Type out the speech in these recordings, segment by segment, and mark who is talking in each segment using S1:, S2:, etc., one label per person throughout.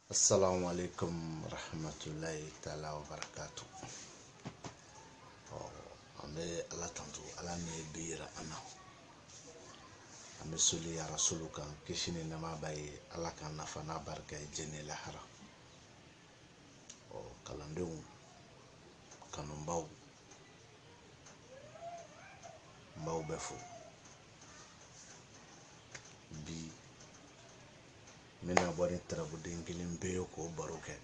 S1: assalamu alaikum rahmatulahi taala wa barakatu ɔ an bɛ ala tanto ala min ye bi yira an na an bɛ soli ya rasulu kan kisi ni nɛma b'a ye ala k'an nafa n'a barika ye diɲɛ ni lahara ɔ kalandenw kanubaw n b'aw bɛɛ fo bi n bɛna bɔ ni tarabuden kelen pe ye k'o baro kɛ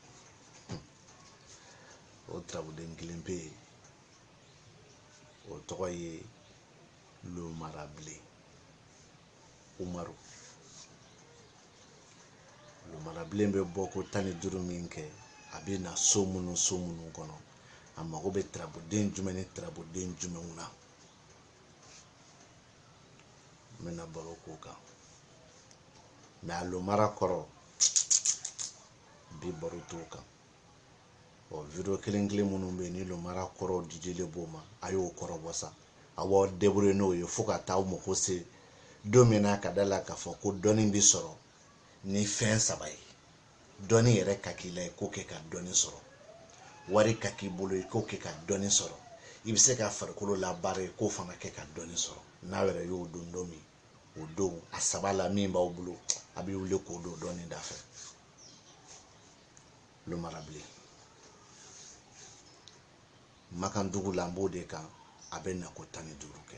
S1: o tarabuden kelen pe ye o tɔgɔ ye lomarabilen umaru lomarabilen bɛ bɔ ko tan ni duuru min kɛ a bɛ na so minnu so minnu kɔnɔ a mago bɛ tarabuden jumɛn ni tarabuden jumɛnw na n bɛna baro k'o kan mais a lomara kɔrɔ bi baro t'o kan ɔ video kelen kelen minnu bɛ yen ni lomara kɔrɔ didilen b'o ma a y'o kɔrɔ bɔ sa a b'aw débrouiller n'o ye fo ka taa aw mako se don min na ka da la k'a fɔ ko dɔnni bɛ sɔrɔ ni fɛn saba ye dɔnni yɛrɛ ka k'i la i k'o kɛ ka dɔnni sɔrɔ wari ka k'i bolo i k'o kɛ ka dɔnni sɔrɔ i bɛ se ka farikolo labaara i k'o fana kɛ ka dɔnni sɔrɔ n'a yɛrɛ y'o dɔn don min o don a saba la min b'aw bolo a bɛ wuli k'o don dɔnni da fɛ lomarabilen makan dugu la n b'o de kan a bɛ na ko tan ni duuru kɛ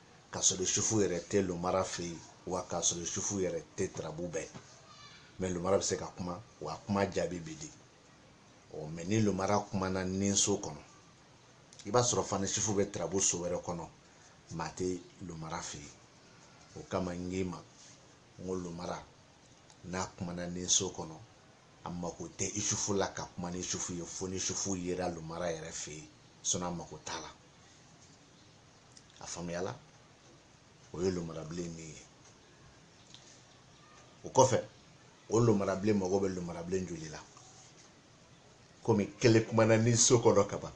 S1: k'a sɔrɔ isufu yɛrɛ tɛ lomara fɛ yen wa k'a sɔrɔ isufu yɛrɛ tɛ tarabu bɛɛ mais lomara bɛ se ka kuma wa kuma jaabi bɛ di ɔ mais ni lomara kumana nin so kɔnɔ i b'a sɔrɔ fana isufu bɛ tarabu so wɛrɛ kɔnɔ maa tɛ lomara fɛ yen o kama n k'i ma n ko lomara n'a kumana nin so kɔnɔ a mako tɛ isufu la ka kuma ni isufu ye fo ni isufu yera lomara yɛrɛ fɛ yen sinon a mako t'a la a faamuyala o ye lomarabilen nin ye o kɔfɛ o lomarabilen mago bɛ lomarabilen joli la komi kelen kumana nin so kɔnɔ kaban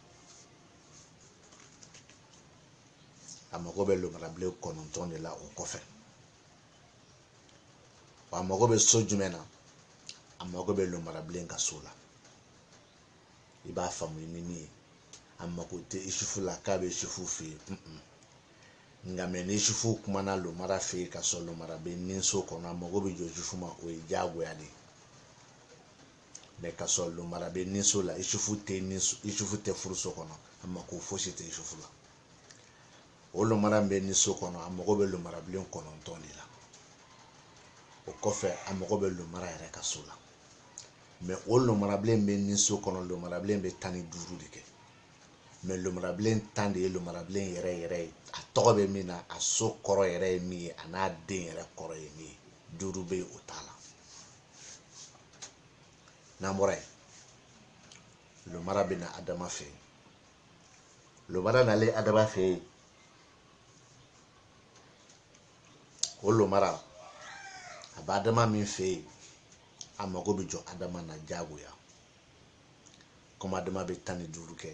S1: a mago bɛ lomarabilen kɔnɔntɔn de la o kɔfɛ wa a mago bɛ so jumɛn na a mago bɛ lomarabilen ka so la i b'a faamu ni min ye a mako tɛ isufu la k'a bɛ isufu fɛ yen nka mɛ ni isufu kumana lomara fɛ yen ka sɔrɔ lomara bɛ ninso kɔnɔ a mago bɛ jɔ isufu ma o ye diyagoya de ye mɛ ka sɔrɔ lomara bɛ ninso la isufu tɛ ninso isufu tɛ furuso kɔnɔ a mako fosi tɛ isufu la o lomara bɛ ninso kɔnɔ a mago bɛ lomarabilen kɔnɔntɔn de la o kɔfɛ a mago bɛ lomara yɛrɛ ka so la mɛ o lomarabilen bɛ ni so kɔnɔ lomarabilen bɛ tan ni duuru de kɛ mɛ lomarabilen tan de ye lomarabilen yɛrɛ yɛrɛ ye a tɔgɔ bɛ min na a so kɔrɔ yɛrɛ ye min ye a n'a den yɛrɛ kɔrɔ ye min ye duuru bɛ yen o t'a la n'an bɔra yen lomara bɛ na adama fɛ yen lomara nalen adama fɛ yen o lomara a bɛ adama min fɛ yen a mago bɛ jɔ adama na diyagoya komi adama bɛ tan ni duuru kɛ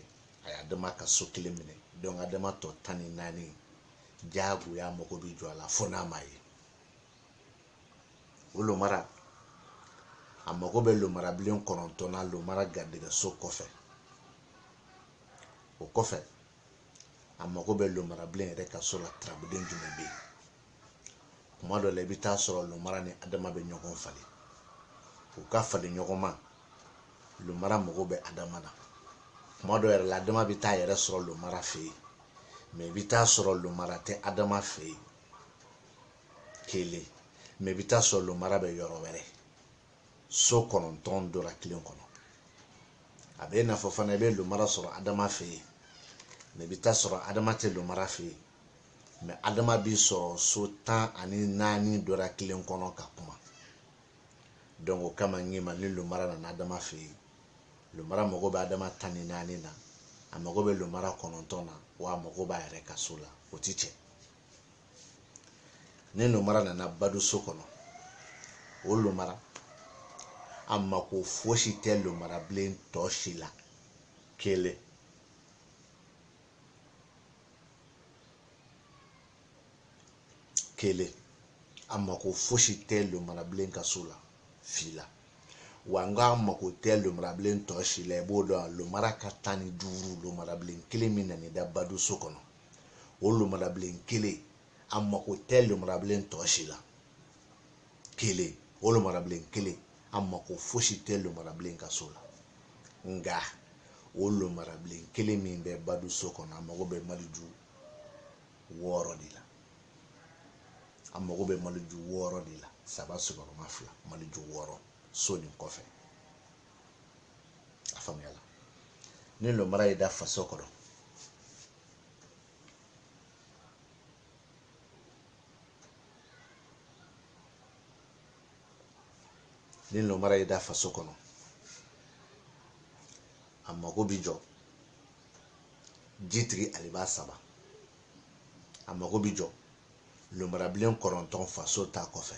S1: a ye adama ka so kelen minɛ dɔnku adama tɔ tan ni naani diyagoya mago bɛ jɔ a la fo n'a ma ye o lomara a mago bɛ lomarabilen kɔnɔntɔn na lomara garijɛgɛso kɔfɛ o kɔfɛ a mago bɛ lomarabilen yɛrɛ ka so la turabuden jumɛn bɛ yen kuma dɔ la i bɛ taa sɔrɔ lomara ni adama bɛ ɲɔgɔn falen u ka falen ɲɔgɔn ma lomara mago bɛ adama na kuma dɔ yɛrɛ la adama bɛ taa yɛrɛ sɔrɔ lomara fɛ yen mɛ i bɛ taa sɔrɔ lomara tɛ adama fɛ yen kelen mɛ i bɛ taa sɔrɔ lomara bɛ yɔrɔ wɛrɛ so kɔnɔntɔn dɔra kelen kɔnɔ a bɛ i n'a fɔ fana i bɛ lomara sɔrɔ adama fɛ yen mɛ i bɛ taa sɔrɔ adama tɛ lomara fɛ yen mɛ adama bɛ sɔrɔ so tan ani naani dɔra kelen kɔnɔ ka kuma donc o kama n k'i ma ni lomara nana adama fɛ yen lomara mago bɛ adama tan ni naani na a mago bɛ lomara kɔnɔntɔn na wa a mago b'a yɛrɛ ka so la o ti cɛ ni lomara nana baduso kɔnɔ o lomara a mako fosi tɛ lomarabilen tɔ si la kelen kelen a mako fosi tɛ lomarabilen ka so la fila wa n k'a mako tɛ lomarabilen tɔ si la i b'o dɔn a lomara ka tan ni duuru lomarabilen kelen min nana i da baduso kɔnɔ o lomarabilen kelen a mako tɛ lomarabilen tɔ si la kelen o lomarabilen kelen a mako fosi tɛ lomarabilen ka so la nka o lomarabilen kelen min bɛ badu so kɔnɔ a mago bɛ maliju wɔɔrɔ de la a mago bɛ maliju wɔɔrɔ de la saba sigiyɔrɔma fila maliju wɔɔrɔ so nin kɔfɛ a faamuyala ni lomara ye da faso kɔnɔ ni lomara ye da faso kɔnɔ a mago bi jɔ jitigi aliba saba a mago bi jɔ lomarabilen kɔnɔntɔn faso ta kɔfɛ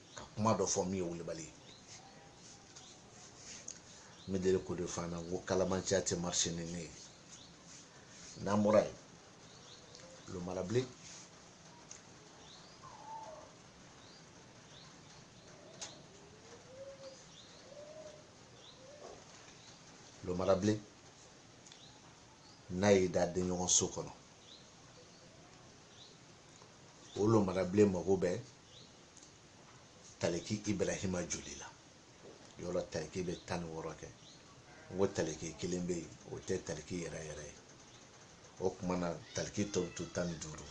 S1: ka kuma dɔ fɔ min ye wulibali ye n bɛ deli k'o de fɔ an na n ko kalabanciya tɛ marise ni ne ye n'an bɔra yen lomarabilen n'a y'i da denɲɔgɔn so kɔnɔ o lomarabilen mago bɛ taliki ibrahima joli la yɔrɔ taliki bɛ tan ni wɔɔrɔ kɛ n ko taliki kelen bɛ yen o tɛ taliki yɛrɛ yɛrɛ ye o kuma na taliki tɔ bɛ to tan ni duuru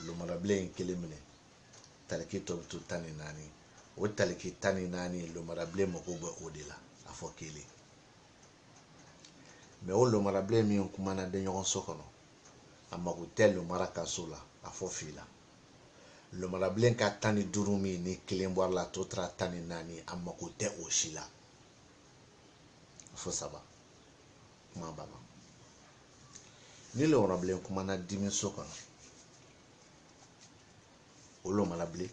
S1: lomarabilen in kelen minɛ taliki tɔ bɛ to tan ni naani o taliki tan ni naani lomarabilen mako bɛ o de la a fɔ kelen mɛ o lomarabilen min kumana denɲɔgɔn so kɔnɔ a mako tɛ lomara ka so la a fɔ fila lomarabilen ka tan ni duuru min ni kelen bɔra la tɔ tora tan ni naani a mako tɛ o si la a fɔ saba kuma banna ni lomarabilen kumana dimiso kɔnɔ o lomarabilen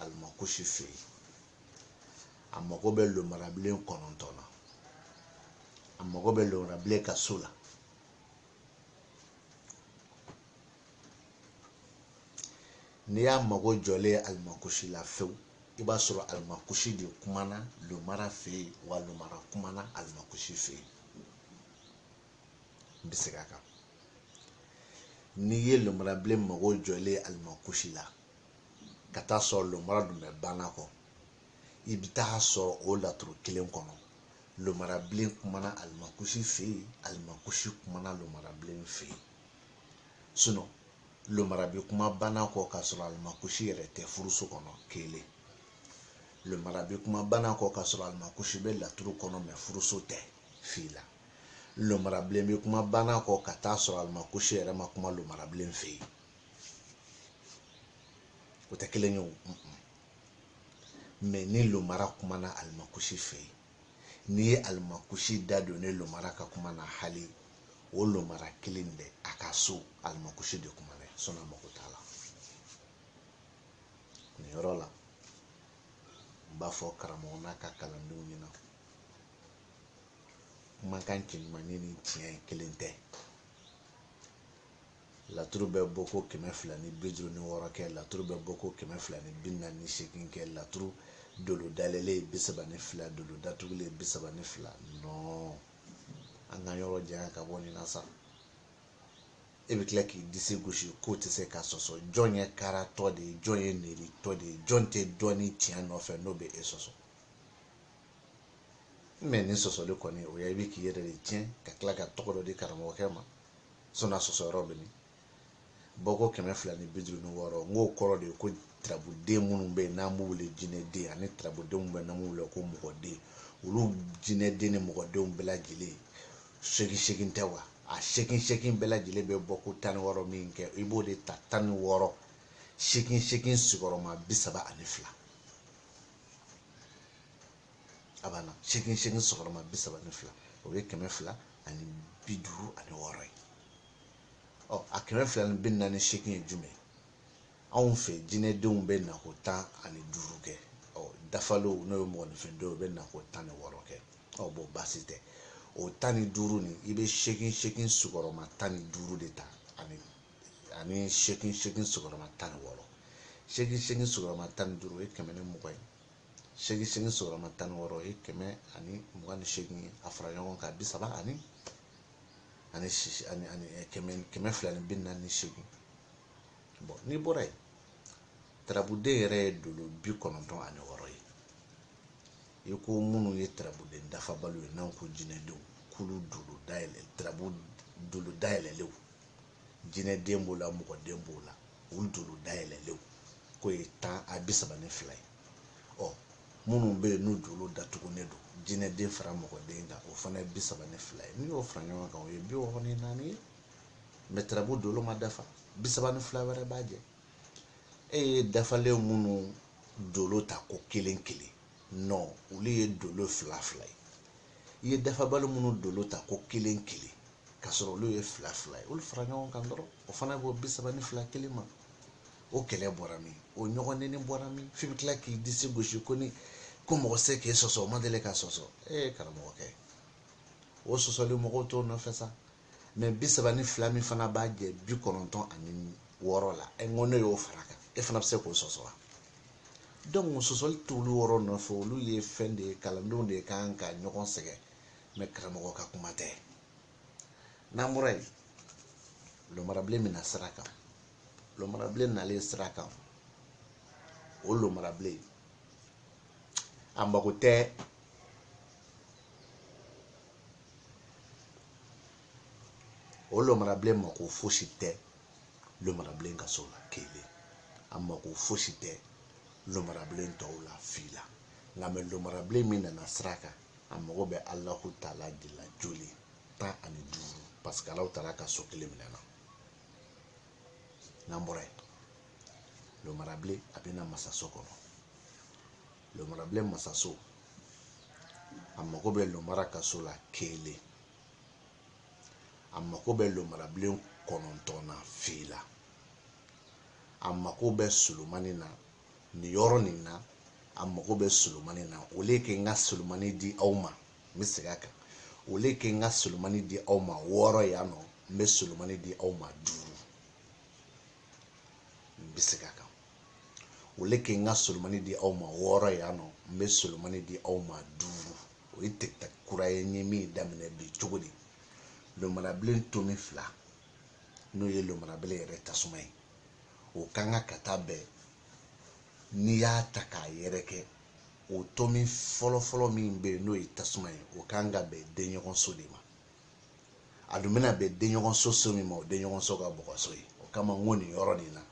S1: alimakusi fɛ yen a mago bɛ lomarabilen kɔnɔntɔn na a mago bɛ lomarabilen ka so la n'i y'a mago jɔlen ye alimakusi la fewu i b'a sɔrɔ alimakusi de kumana lomara fɛ yen wa lomara kumana alimakusi fɛ yen n bɛ segin a kan n'i ye lomarabilen mago jɔlen ye alimakusi la ka taa sɔrɔ lomara dun bɛ banakɔ i bɛ taa sɔrɔ o laturu kelen kɔnɔ lomarabilen kumana alimakusi fɛ yen alimakusi kumana lomarabilen fɛ yen sinɔn lomara bɛ kuma banakɔ k'a sɔrɔ alimakusi yɛrɛ tɛ furuso kɔnɔ kelen lomara bɛ kuma banakɔ k'a sɔrɔ alimakusi bɛ laturu kɔnɔ mɛ furuso tɛ fila lomarabilen bɛ kuma banakɔ ka taa sɔrɔ alimakusi yɛrɛ ma kuma lomarabilen fɛ yen o tɛ kelen ye o mɛ ni lomara kumana alimakusi fɛ yen n'i ye alimakusi da don ne lomara ka kuma na hali o lomara kelen bɛ a ka so alimakusi de kumana sɔnna mako t'a la nin yɔrɔ la n b'a fɔ karamɔgɔ n'a ka kalandenw ɲɛna kumakan cɛɲumannin ni tiɲɛ kelen tɛ laturu bɛ bɔ ko kɛmɛ fila ni bi duuru ni wɔɔrɔ kɛ laturu bɛ bɔ ko kɛmɛ fila ni bi naani ni seegin kɛ laturu dolo dayɛlɛlen bi saba ni fila dolo datugulen bi saba ni fila non an ka yɔrɔ janya ka bɔ nin na sa e bɛ tila k'i disi gosi k'o tɛ se ka sɔsɔ jɔn ye karatɔ de ye jɔn ye neritɔ de ye jɔn tɛ dɔnni tiɲɛ nɔfɛ n'o bɛ e sɔsɔ mɛ nin sɔsɔli kɔni o ye i bɛ k'i yɛrɛ de tiɲɛ ka tila ka tɔgɔ dɔ di karamɔgɔkɛ ma sɔnna sɔsɔ yɔrɔ bɛ nin bɔko kɛmɛ fila ni bi duuru ni wɔɔrɔ n k'o kɔrɔ de ye ko tarabuden minnu bɛ yen n'an b'u wele jinɛden ani tarabuden minnu bɛ yen n'an b'u wele ko mɔgɔden olu jinɛden ni mɔgɔdenw bɛɛ lajɛlen seegin seegin tɛ wa a seegin seegin bɛɛ lajɛlen bɛ bɔ ko tan ni wɔɔrɔ min kɛ i b'o de ta tan ni wɔɔrɔ seegin seegin sigiyɔrɔma bi saba ani fila a banna seegin seegin sigiyɔrɔma bi saba ni fila o ye kɛmɛ fila ani bi duuru ani wɔɔrɔ ye ɔ a kɛmɛ fila ni bi naani seegin ye jumɛn ye anw fɛ jinɛdenw bɛ na ko tan ani duuru kɛ ɔ dafalenw n'o ye mɔgɔninfindenw bɛ na ko tan ni wɔɔrɔ kɛ ɔ bɔn baasi tɛ o tan ni duuru nin i bɛ seegin seegin sigiyɔrɔma tan ni duuru de ta ani ani seegin seegin sigiyɔrɔma tan ni wɔɔrɔ seegin seegin sigiyɔrɔma tan ni duuru o ye kɛmɛ ni mugan ye seegin seegin sigiyɔrɔma tan ni wɔɔrɔ ye kɛmɛ ani mugan ni seegin ye a fara ɲɔgɔn kan bi saba ani ani sisi ani ani eh, kɛmɛ kɛmɛ fila ni bi naani ni seegin bɔn n'i bɔra yen tarabuden yɛrɛ ye dolo bi kɔnɔntɔn ani wɔɔrɔ ye i ko minnu ye tarabuden dafabaliw ye n'an ko jinɛdenw k'olu dolo dayɛlɛ tarabu dolo dayɛlɛlenw jinɛden b'o la mɔgɔden b'o la olu dolo dayɛlɛlenw k'o ye tan a bi saba ni fila ye ɔ minnu bɛ yen n'u dolo datugulen don jinɛden fara mɔgɔden kan o fana ye bi saba ni fila ye n'i y'o fara ɲɔgɔn kan o ye bi wɔɔrɔ ni naani ye mɛ tarabu dolo ma dafa bi saba ni fila wɛrɛ b'a jɛ e ye dafalen minnu dolo ta ko kelen kelen non olu ye dolo fila fila ye i ye dafabali minnu dolo ta ko kelen kelen ka sɔrɔ olu ye fila fila ye olu fara ɲɔgɔn kan dɔrɔn o fana b'o bi saba ni fila kelen ma o kɛlɛ bɔra min o ɲɔgɔn nɛni bɔra min f'i bɛ tila k'i disi gosi ko ni ko mɔgɔ se k'e sɔsɔ o ma deli ka sɔsɔ ee karamɔgɔkɛ o sɔsɔli mɔgɔw t'o nɔfɛ sa mais bi saba ni fila min fana b'a jɛ bi kɔnɔntɔn ani wɔɔrɔ la ɛ n ko ne y'o fara kan e fana bɛ se k'o sɔsɔ wa donc sɔsɔli t'olu yɔrɔ nɔfɛ olu ye fɛn de ye kalandenw de kan ka ɲɔgɔn sɛgɛn mais karamɔgɔ ka kuma tɛ n'an bɔra yen lomarabilen min na sira kan lomarabilen nalen sira kan o lomarabilen a mago tɛ o lomarabilen mako fosi tɛ lomarabilen ka so la kelen a mako fosi tɛ lomarabilen tɔw la fila nka mais lomarabilen min nana sira kan a mago bɛ alahu taala de la joli tan ani duuru parce que alahu taala ka so kelen minɛ na n'an bɔra yen lomarabilen a bɛ na masaso kɔnɔ lomarabilen masaso a mago bɛ lomara ka so la kelen a mago bɛ lomarabilen kɔnɔntɔn na fila a mago bɛ solomani na nin yɔrɔ nin na a mago bɛ solomani na au lieu que n ka solomani di aw ma n bɛ segin a kan au lieu que n ka solomani di aw ma wɔɔrɔ yan nɔ n bɛ solomani di aw ma duuru n bɛ segin a kan au lieu que n ka solomani di aw ma wɔɔrɔ yan nɔ n bɛ solomani di aw ma duuru o ye tɛgɛta kura ye n ye min daminɛ bi cogo di lomarabilen tomi fila n'o ye lomarabilen yɛrɛ tasuma ye o kan ka taa bɛn n'i y'a ta k'a yɛrɛkɛ o tomi fɔlɔfɔlɔ min bɛ yen n'o ye tasuma ye o kan ka bɛn denɲɔgɔnso de ma a dun bɛna bɛn denɲɔgɔnso so min ma o denɲɔgɔnso ka bɔgɔso ye o kama n ko nin yɔrɔ nin na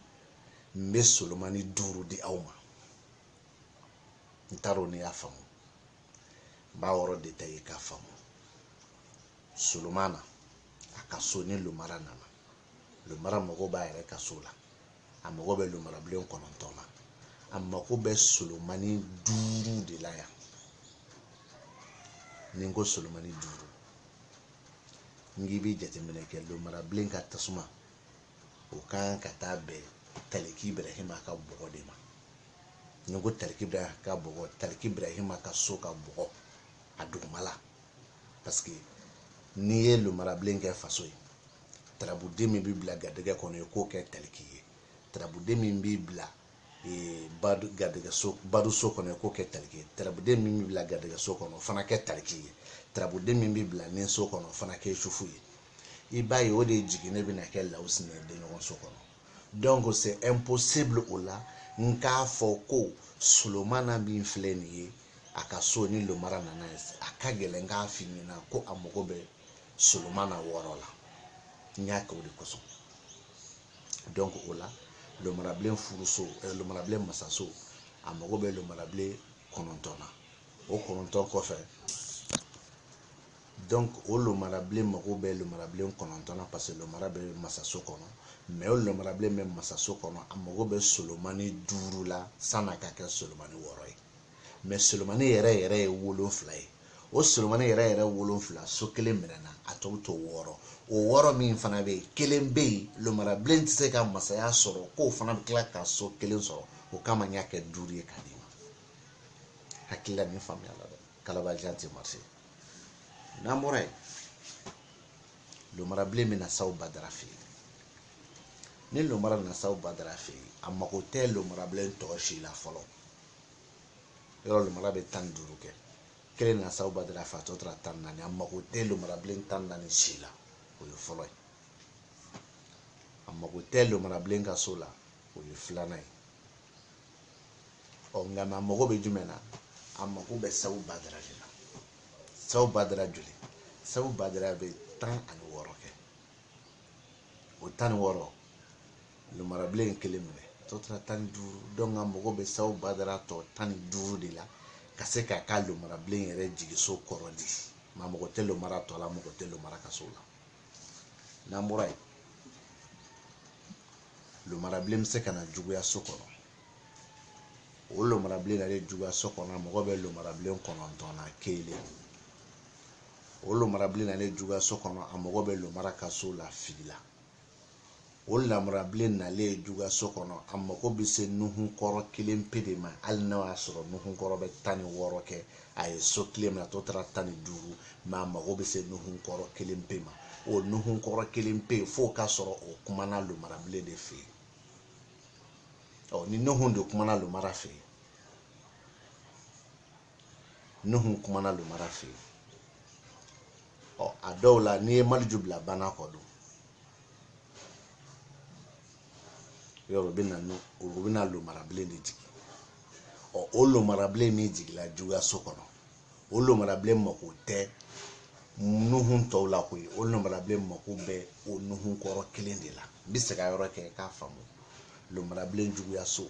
S1: n bɛ solomani duuru di aw ma n t'a dɔn n'i y'a faamu n b'a yɔrɔ détaillé k'a faamu solomana a ka so ni lomara nana lomara mago b'a yɛrɛ ka so la a mago bɛ lomarabilen kɔnɔntɔn na a mago bɛ solomani duuru de la yan ni n ko solomani duuru n k'i bɛ jateminɛ kɛ lomarabilen ka tasuma o kan ka taa bɛn taliki ibrahima ka bɔgɔ de ma ni n ko taliki ibrahima ka bɔgɔ taliki ibrahima ka so ka bɔgɔ a dugumala parce que n'i ye lomarabilen kɛ faso ye tarabuden min bɛ bila garijɛgɛ kɔnɔ i k'o kɛ taliki ye tarabuden min bɛ bila eh, garijɛgɛso baduso kɔnɔ i k'o kɛ taliki ye tarabuden min bɛ bila garijɛgɛso kɔnɔ o fana kɛ taliki ye tarabuden min bɛ bila niso kɔnɔ o fana kɛ isufu ye i b'a ye o de jiginnen bɛna kɛ lawusin ye denɲɔgɔnso kɔnɔ donc c'est impossible o la n k'a fɔ ko solomana min filɛ nin ye a ka so ni lomara nana ye a ka gɛlɛn k'a f'i ɲɛna ko a mago bɛ solomana wɔɔrɔ la n y'a kɛ o de kosɔn donc o la lomarabilen furuso eh, lomarabilen masaso a mago bɛ lomarabilen kɔnɔntɔn na o kɔnɔntɔn kɔfɛ donc o lomarabilen mago bɛ lomarabilen kɔnɔntɔn na parce que lomara bɛ masaso kɔnɔ mais o lomarabilen bɛ masaso kɔnɔ a mago bɛ solomani duuru la san'a ka kɛ solomani wɔɔrɔ ye mais solomani yɛrɛ yɛrɛ ye wolonfila ye o solomani yɛrɛ yɛrɛ wolonfila so kelen minɛna a tɔw to wɔɔrɔ o wɔɔrɔ min fana bɛ yen kelen bɛ yen lomarabilen tɛ se ka masaya sɔrɔ k'o fana bɛ tila ka so kelen sɔrɔ o kama n y'a kɛ duuru ye k'a d'i ma hakilila nin faamuya la dɛ kalabajan tɛ marcher n'an bɔra yen lomarabilen bɛ na saw badara fɛ yen ni lomara nana saw badara fɛ yen a mago tɛ lomarabilen tɔ si la fɔlɔ yɔrɔ lomara bɛ tan ni duuru kɛ kelen nana sabu badara fɛ a tɔ tora tan ni naani a mago tɛ lomarabilen tan ni naani si la o ye fɔlɔ ye a mago tɛ lomarabilen ka so la o ye filanan ye ɔ nka a mago bɛ jumɛn na a mago bɛ sabu badara de la sabu badara joli sabu badara bɛ tan ani wɔɔrɔ kɛ o tan ni wɔɔrɔ Lomarabilen kelen minɛ tɔ tora tan ni duuru donc a mago bɛ sabu badara tɔ tan ni duuru de la ka se k'a ka lomarabilen yɛrɛ jigiso kɔrɔ di nka mago tɛ lomara tɔ la mago tɛ lomara ka so la n'an bɔra yen lomarabilen bɛ se ka na juguya so kɔnɔ o lomarabilen nalen juguya so kɔnɔ a mago bɛ lomarabilen kɔnɔntɔn na kelen o lomarabilen nalen juguya so kɔnɔ a mago bɛ lomara ka so la fila o lomarabilen nalen ye juguya so kɔnɔ a mako bɛ se nuhun kɔrɔ kelen pe de ma hali n'o y'a sɔrɔ nuhun kɔrɔ bɛ tan ni wɔɔrɔ kɛ a ye so kelen minɛ a tɔ tora tan ni duuru mais a mako bɛ se nuhun kɔrɔ kelen pe ma o nuhun kɔrɔ kelen pe f'o ka sɔrɔ o kumana lomarabilen de fɛ yen ɔ ni nuhun de kumana lomara fɛ yen nuhun kumana lomara fɛ yen ɔ a dɔw la n'i ye maliju bila bana kɔ don yɔrɔ u bɛna nu u bɛna lomarabilen de jigin ɔ o lomarabilen min jigila juguyaso kɔnɔ o lomarabilen mako tɛ nuhun tɔw la koyi o lomarabilen mako bɛ o nuhun kɔrɔ kelen de la n bɛ se ka yɔrɔ kɛ k'a faamu lomarabilen juguyaso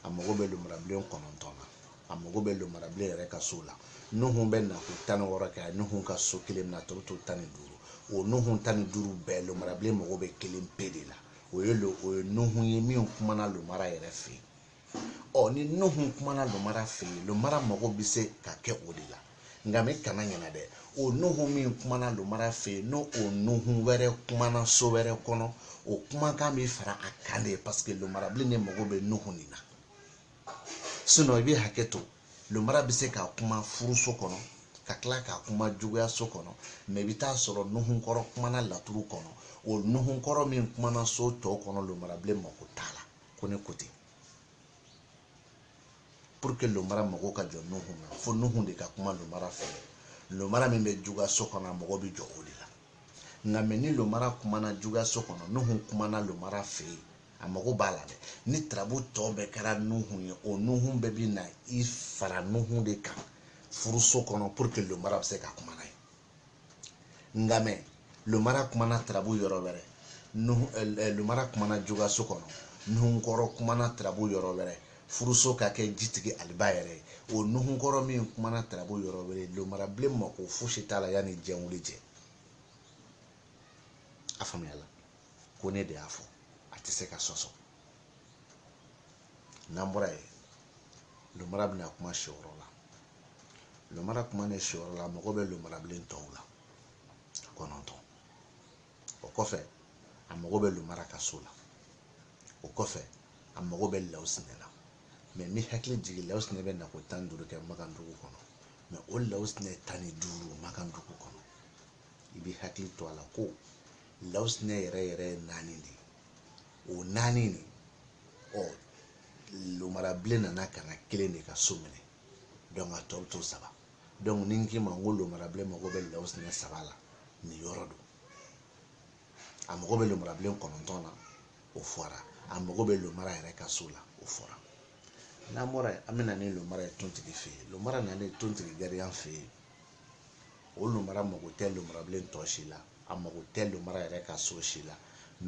S1: a mago bɛ lomarabilen kɔnɔntɔn na a mago bɛ lomarabilen yɛrɛ ka so la nuhun bɛ na ko tan ni wɔɔrɔ kɛ a ye nuhun ka so kelen minɛ a tɔ bɛ to tan ni duuru o nuhun tan ni duuru bɛɛ lomarabilen mago bɛ kelen pe de la o ye lo o ye nuhun ye min kumana lomara yɛrɛ fɛ yen ɔ ni nuhun kumana lomara fɛ yen lomara mago bɛ se ka kɛ o de la nka mɛ i kana ɲɛna dɛ o nuhu min kumana lomara fɛ yen n'o o nuhu wɛrɛ kumana so wɛrɛ kɔnɔ o kumakan bɛ fara a kan de paseke lomarabilen de mago bɛ nuhu nin na sinɔn i bɛ hakɛ to lomara bɛ se ka kuma furuso kɔnɔ ka tila ka kuma juguya so kɔnɔ mɛ i bɛ taa sɔrɔ nuhu kɔrɔ kumana laturu kɔnɔ o nuhu kɔrɔ min kumana so tɔ kɔnɔ lomarabilen mako t'a la ko ne ko ten pour que lomara mago ka jɔ nuhun na fo nuhun de ka kuma lomara fɛ yen lomara min bɛ juguya so kɔnɔ a mago bɛ jɔ o de la nka mɛ ni lomara kumana juguya so kɔnɔ nuhun kumana lomara fɛ yen a mago b'a la dɛ ni tarabu tɔ bɛɛ kɛra nuhun ye o nuhun bɛɛ bɛ na i fara nuhu de kan furuso kɔnɔ pour que lomara bɛ se ka kuma n'a ye nka mɛ lomara kumana tarabu yɔrɔ wɛrɛ lomara kumana juguya so kɔnɔ nuhunkɔrɔ kumana tarabu yɔrɔ wɛrɛ furuso ka kɛ jitigi aliba yɛrɛ ye o nuhunkɔrɔ min kumana tarabu yɔrɔ wɛrɛ lomarabilen mako fosi t'a la yanni diɲɛ wuli cɛ a faamuyala ko ne de y'a fɔ a tɛ se ka sɔsɔ n'an bɔra yen lomara bɛna kuma siyɔrɔ la lomara kumanen siyɔrɔ la a mago bɛ lomarabilen tɔw la kɔnɔntɔn o kɔfɛ a mago bɛ lomara ka so la o kɔfɛ a mago bɛ lawusinɛ la mɛ n b'i hakili jigin lawusinɛ bɛ na ko tan ni duuru kɛ makan dugu kɔnɔ mɛ o lawusinɛ tan ni duuru makan dugu kɔnɔ i bɛ hakili to a la ko lawusinɛ yɛrɛ yɛrɛ ye naani de ye o naani de ɔ lomarabilen nana ka na kelen de ka so minɛ dɔnku a tɔ bɛ to saba dɔnku ni n k'i ma n ko lomarabilen mago bɛ lawusinɛ saba la nin yɔrɔ don a mago bɛ lomarabilen kɔnɔntɔn na o fɔra a mago bɛ lomara yɛrɛ ka so la o fɔra n'an bɔra yen an bɛ na ni lomara ye tontigi fɛ yen lomara nalen tontigi gariya fɛ yen o lumara mago tɛ lumarabilen tɔ si la a mago tɛ lumara yɛrɛ ka so si la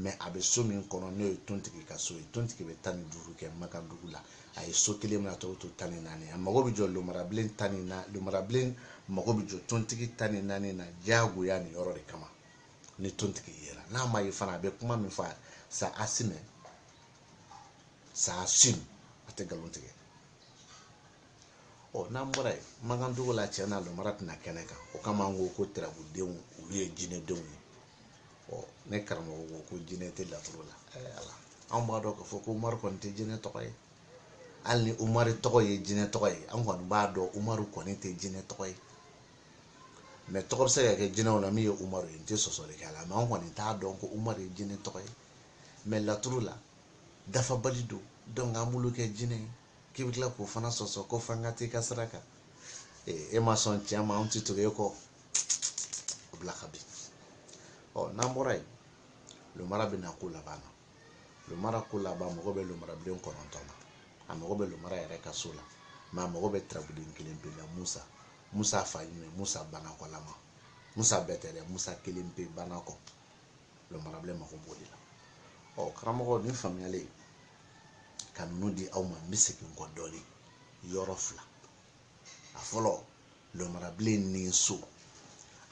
S1: mɛ a bɛ so min kɔnɔ n'o ye tontigi ka so ye tontigi bɛ tan ni duuru kɛ makandugu la a ye so kelen mina tɔw to tan ni naani a mago bɛ jɔ lumarabilen tan ni naani lumarabilen mago bɛ jɔ tontigi tan ni naani na diyagoya nin yɔrɔ de kama ni tontigi yera n'a ma ye fana a bɛ kuma min fɔ sa asimɛ sa asim a tɛ nkalon tigɛ ɔ n'an bɔra yen makandugu la cɛ na lomara tɛ na kɛnɛ kan o kama an ko ko tirabudenw olu ye jinɛdenw ye ɔ ne karamɔgɔ ko ko jinɛ tɛ laturu la ala anw b'a dɔn k'a fɔ ko umaru kɔni tɛ jinɛ tɔgɔ ye hali ni umaru tɔgɔ ye jinɛ tɔgɔ ye an kɔni b'a dɔn umaru kɔni tɛ jinɛ tɔgɔ ye mɛ tɔgɔ bɛ se ka kɛ jinɛw la min ye umaru ye n tɛ sɔsɔli kɛ a la mɛ an kɔni t'a dɔn ko umaru ye jinɛ tɔgɔ ye mɛ laturu la dafabali don dɔnku an b'olu kɛ jinɛ ye k'i bɛ tila k'o fana sɔsɔ ko f'an ka t'i ka sira kan e ma sɔn cɛ ma an ti tugu e kɔ o bila ka bin ɔ n'an bɔra yen lomara bɛ na ko laban na lomara ko laban mago bɛ lomarabilen kɔnɔntɔn na a mago bɛ lomara yɛrɛ ka so la mɛ a mago bɛ tirabuden kelen pe la musa musa fa ɲuman musa banakɔlama musa bɛɛ tɛ dɛ musa kelen pe banakɔ lomarabilen mago b'o de la ɔ karamɔgɔ nin faamuyalen ka ninnu di aw ma n bɛ segin n kɔ dɔɔnin yɔrɔ fila a fɔlɔ lomarabilen ni so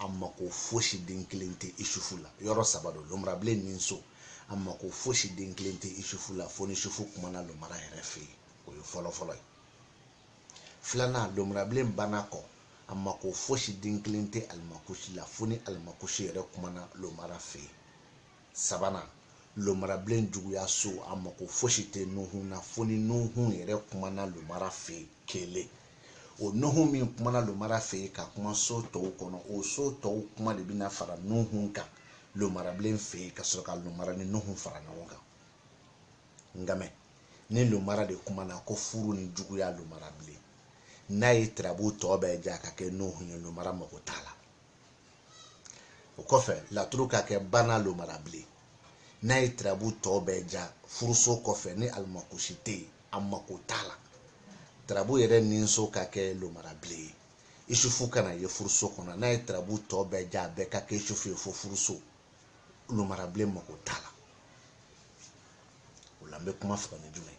S1: a mako fosi den kelen tɛ isufu la yɔrɔ saba don lomarabilen ni so a mako fosi den kelen tɛ isufu la fo n'isufu kumana lomara yɛrɛ fɛ yen o ye fɔlɔfɔlɔ ye filanan lomarabilen banakɔ a mako fosi den kelen tɛ alimakusi la fo ni alimakusi yɛrɛ kumana lomara fɛ yen sabanan lomarabilen juguya so a mako fosi tɛ nuhun na fo ni nuhun yɛrɛ kumana lomara fɛ kelen o nuhun min kumana lomara fɛ ka kuma so tɔw kɔnɔ o so tɔw kuma de bɛna fara nuhun kan lomarabilen fɛ ka sɔrɔ ka lomara ni nuhun fara ɲɔgɔn kan nkamɛ ni lomara de kumana ko furu ni juguya lomarabilen n'a ye tirabu tɔ bɛɛ ja ka kɛ nuhun ye lomara mako t'a la o kɔfɛ laturu ka kɛ bana lomara bilen n'a ye tirabu tɔ bɛɛ ja furuso kɔfɛ ni alimakusi tɛ yen a mako t'a la tirabu yɛrɛ ninso ka kɛ lomara bilen ye isufu kana ye furuso kɔnɔ n'a ye tirabu tɔ bɛɛ ja a bɛɛ ka kɛ isufu ye fo furuso lomara bilen mako t'a la o la n bɛ kuma fɔ ni jumɛn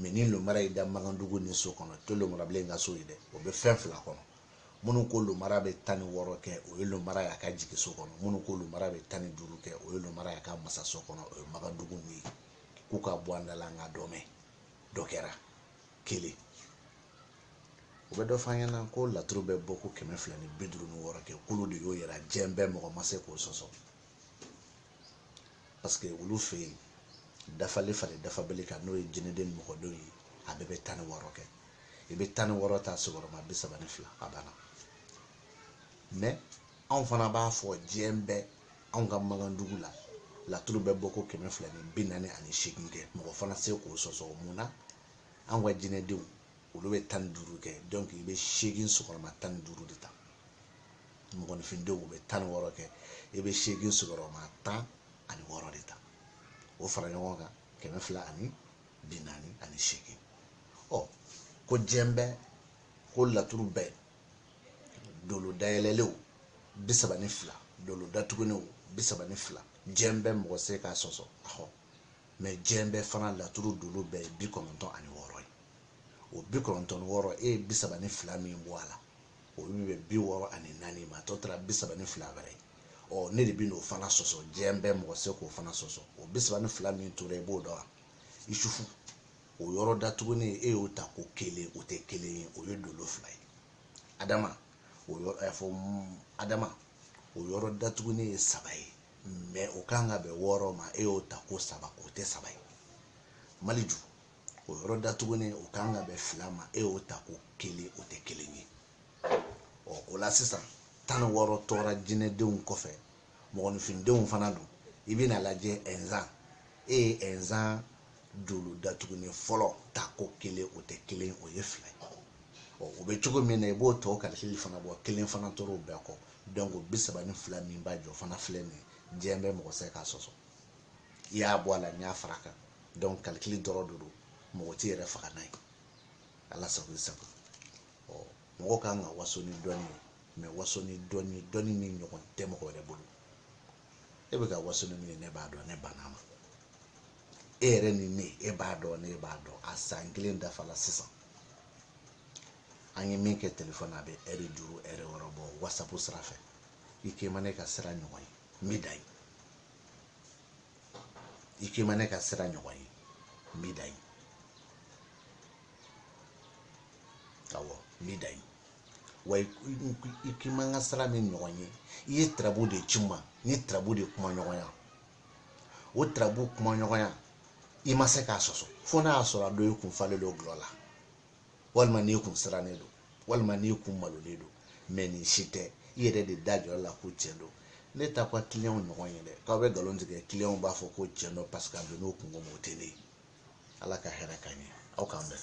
S1: mɛ ni lomara y'i da makandugu ni so kɔnɔ o tɛ lomarabilen ka so ye dɛ o bɛ fɛn fila kɔnɔ minnu ko lomara bɛ tan ni wɔɔrɔ kɛ o ye lomara y'a ka jigi so kɔnɔ minnu ko lomara bɛ tan ni duuru kɛ o ye lomara y'a ka masa so kɔnɔ o ye makandugu n'u ye k'u ka bɔ an da la an ka dɔ mɛn dɔ kɛra kelen u bɛ dɔ fɔ an ɲɛna ko laturu bɛ bɔ ko kɛmɛ fila ni bi duuru ni wɔɔrɔ kɛ k'olu de y'o yɛrɛ diɲɛ bɛɛ mɔgɔ ma se k'o sɔsɔ parce que olu fɛ yen dafalen faralen dafabali kan n'o ye jinɛden ni mɔgɔdenw ye a bɛɛ bɛ tan ni wɔɔrɔ kɛ i bɛ tan ni wɔɔrɔ ta sigiyɔrɔma bi saba ni fila a banna mɛ anw fana b'a fɔ diɲɛ bɛɛ anw ka makandugu la laturu bɛ bɔ ko kɛmɛ fila ni bi naani ani seegin kɛ mɔgɔ fana se k'o sɔsɔ mun na anw ka jinɛdenw olu bɛ tan ni duuru kɛ donc i bɛ seegin sigiyɔrɔma tan ni duuru de ta mɔgɔninfindenw u bɛ tan ni wɔɔrɔ kɛ i bɛ seegin sigiyɔrɔma tan ani wɔɔrɔ de ta o fara ɲɔgɔn kan kɛmɛ fila ani bi naani ani seegin ɔ ko diɲɛ bɛɛ ko laturu bɛɛ dolo dayɛlɛlenw bi saba ni fila dolo datugulenw bi saba ni fila diɲɛ bɛɛ mɔgɔ se k'a sɔsɔ ahɔ mɛ diɲɛ bɛɛ fana laturu dolo bɛɛ ye bi kɔnɔntɔn ani wɔɔrɔ ye o bi kɔnɔntɔn ni wɔɔrɔ e ye bi saba ni fila min bɔ a la o bɛ bɛn bi wɔɔrɔ ani naani ma tɔ tora bi saba ni fila wɛrɛ ɔ ne de bɛ n'o fana sɔsɔ diɲɛ bɛɛ mɔgɔ se k'o fana sɔsɔ o bi saba ni fila min tora i b'o dɔn wa isufu o yɔrɔ datugulen e y'o ta ko kelen o tɛ kelen ye o ye dolo fila ye adama o yɔrɔ ɛ fɔ adama o yɔrɔ datugulen ye saba ye mɛ o kan ka bɛn wɔɔrɔ ma e y'o ta ko saba o tɛ saba ye maliju o yɔrɔ datugulen o kan ka bɛn fila ma e y'o ta ko kelen o tɛ kelen ye ɔ o la sisan tan ni wɔɔrɔ tora jinɛdenw kɔfɛ mɔgɔninfindenw fana don i bɛn'a lajɛ ɛnzan e ye ɛnzan dolo datugulen fɔlɔ ta ko kelen o tɛ kelen o ye fila ye ɔ o bɛ cogo min na i b'o tɔ kalikili fana bɔ kelen fana tora o bɛɛ kɔ donc o bi saba ni fila min b'a jɔ fana filɛ nin ye diɲɛ bɛɛ mɔgɔ se k'a sɔsɔ i y'a bɔ a la n y'a fara kan donc kalikili dɔrɔn de don mɔgɔ t'i yɛrɛ faga n'a ye ala sago i sago ɔ mɔgɔ kan ka waso ni dɔnni ye mɛ waso ni dɔnni dɔnni min ɲɔgɔn tɛ mɔgɔ wɛrɛ bolo e bɛ ka waso ni min ye ne b'a dɔn ne banna ma e yɛrɛ ni ne e b'a dɔn ne b'a dɔn a san kelen dafala sisan an ye min kɛ telefɔni na a bɛ ɛri duuru ɛri wɔɔrɔ bɔ wasapu sira fɛ i k'i ma ne ka sira ɲɔgɔn ye n bɛ dan yen i k'i ma ne ka sira ɲɔgɔn ye n b'i da ye awɔ n b'i da ye wa i k'i ma n ka sira min ɲɔgɔn ye i ye tirabu de ci n ma n ye tirabu de kuma ɲɔgɔnya o tirabu kuma ɲɔgɔnya i ma se k'a sɔsɔ fo n'a y'a sɔrɔ a dɔ i kun falen don gulɔ la walima n'i kun sirannen don walima n'i kun malolen don mɛ nin si tɛ i yɛrɛ de da jɔ la ko tiɲɛ don ne t'aw ka kiliyanw ɲɔgɔn ye dɛ k'aw bɛ nkalon tigɛ kiliyanw b'a fɔ ko tiɲɛ don paseke a don n'o kungo mɔgɔ tɛ ne ye ala ka hɛrɛ k'an ɲɛ aw k'an bɛn